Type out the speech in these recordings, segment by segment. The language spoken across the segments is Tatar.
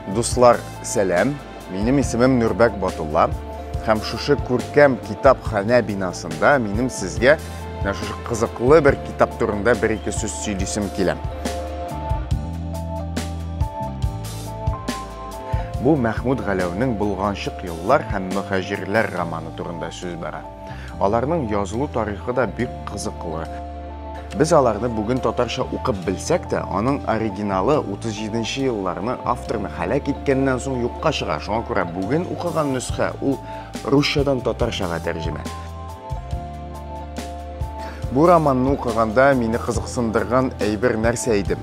Дуслар, сәләм! Минем исемем Нурбәк Батулла. Һәм шушы күркәм китапханә бинасында минем сезгә менә шушы кызыклы бер китап турында бер ике сүз сөйлисем килә. Бу Мәхмүд Галәүнең Булганчык еллар һәм мөхәҗирләр романы турында сүз бара. Аларның язылу тарихы да бик кызыклы. Без аларны бүген татарча укып белсәк тә, аның оригиналы 37 нче елларны авторны һәлак иткәннән соң юкка чыга. Шуңа күрә бүген укыган нөсхә ул русчадан татарчага тәрҗемә. Бу романны укыганда мине кызыксындырган әйбер нәрсә иде?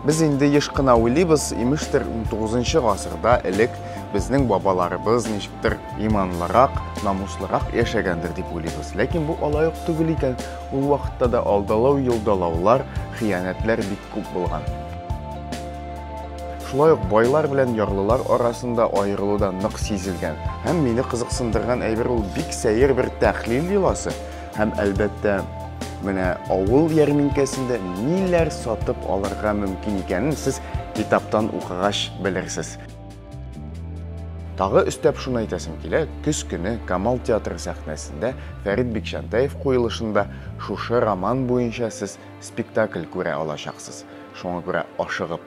Без инде еш кына уйлыйбыз, имештер, 19 гасырда элек безнең бабаларыбыз ничектер иманлырак, намуслырак яшәгәндер дип уйлыйбыз. Ләкин бу алай ук түгел икән. Ул вакытта да алдалау, елдалаулар, хыянәтләр бик күп булган. Шулай ук байлар белән ярлылар арасында аерылу да нык сизелгән. Һәм мине кызыксындырган әйбер ул бик сәер бер тәхлил йоласы. Һәм әлбәттә, менә авыл ярминкәсендә ниләр сатып алырга мөмкин икәнен сез китаптан укыгач белерсез. Тагы өстәп шуны әйтәсем килә, көз көне Камал театры сәхнәсендә Фәрит Бикчәнтәев куелышында шушы роман буенча сез спектакль күрә алачаксыз. Шуңа күрә ашыгып